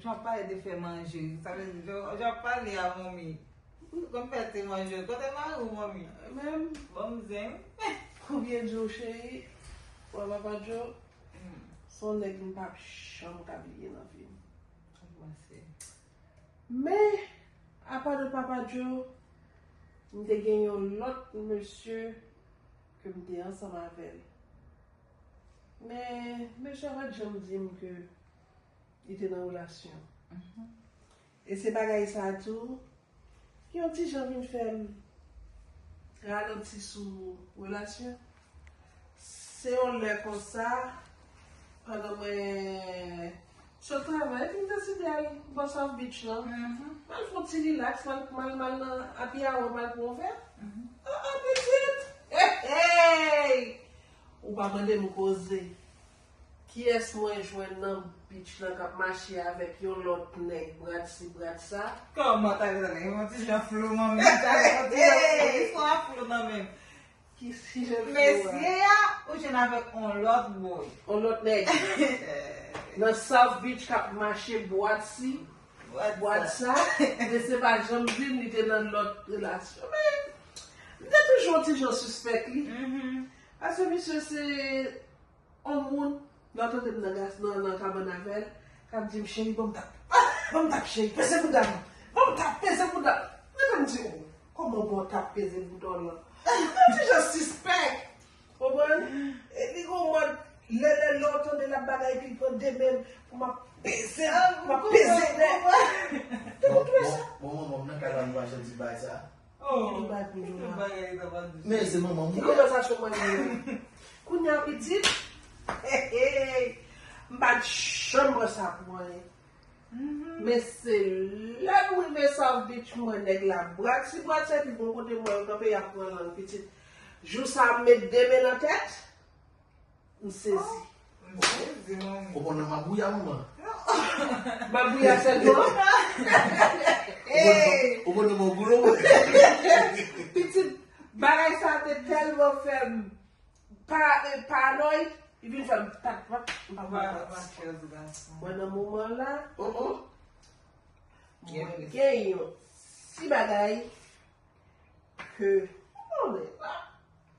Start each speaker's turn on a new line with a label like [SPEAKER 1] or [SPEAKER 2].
[SPEAKER 1] Jan w pale de fè manje. Sa vle di jan w pale a manmi. Ou te konn fè te manje. Kote mari w manmi. Menm. Banm
[SPEAKER 2] zen wi.
[SPEAKER 1] Konbyen
[SPEAKER 2] djo cheri. Wè papa djo. Son nèg m pap janm ka bliye nan vi m. Ou panse. Men apa de papa djo. M te gen yon lòt mesye ke m te ansanm avè l. Men mesye a pat janm di m ke. li te nan relasyon. E se bagay sa tou ki yon ti jan vin fè m ralenti sou relasyon. Se yon lè konsa, pandan mwen sot travay, epi m deside al bò South Beach lan. M al fè yon ti rilaks, m al nan Happy Hour, m al pran yon vè. An an pitit! Hey! Ou pa mande m koze. Kiyès mwen jwenn nan beach lan kap mache avèk yon lòt nèg brad si brad sa. Kòman ta gen nan
[SPEAKER 1] yon ti jan flou nan menm ta gen yon ti jan flou listwa a flou nan menm. Ki ti
[SPEAKER 2] jan flou a. Mesye a
[SPEAKER 1] ou jwenn avèk on lòt boy. On lòt nèg
[SPEAKER 2] nan south beach kap mache bwad si bwad sa mesye pa janm dim li te nan lòt relasyon men m te toujou on ti jan sispèk li paske misye se On moun nan tante m nan gas nan nan kabann avè l k ap di m cheri ban m tap ah ban m tap cheri peze bouda m ban m tap peze bouda m mwen ta m di oh kòman bon tap peze bouda w lan mwen toujou sispèk konprann e li gon mòd lè lè lè w tande l ap bagay epi l pran de men l pou m ap peze l pou m ap peze nèg mwen
[SPEAKER 3] ta m twouve sa. Bon manman m nan kabann m pa janti bay sa. Li bat li
[SPEAKER 1] la.
[SPEAKER 3] Men se manman mwen. Ki konvèsasyon mwen li yo?
[SPEAKER 2] Kounya pitit? M pa t janm wè sa pou anyen. Men se lè m rive South Beach m wè nèg la bradsi bradsi epi bon kote m wè yo kanpe y ap pran lang pitit. Jou sa m met de men nan tèt. M sezi. M sezi manmi.
[SPEAKER 3] Ou konnen mabouya manman.
[SPEAKER 2] Mabouya sèl pou ou?
[SPEAKER 3] Ou konnen mwen goulo mwen.
[SPEAKER 2] Pitit bagay sa te tèlman fèm paranoid. Li vin fèm pat pran. M pa pran pati. Mwen nan moman la. Mwen gen yon ti bagay. Ke. Mwen la.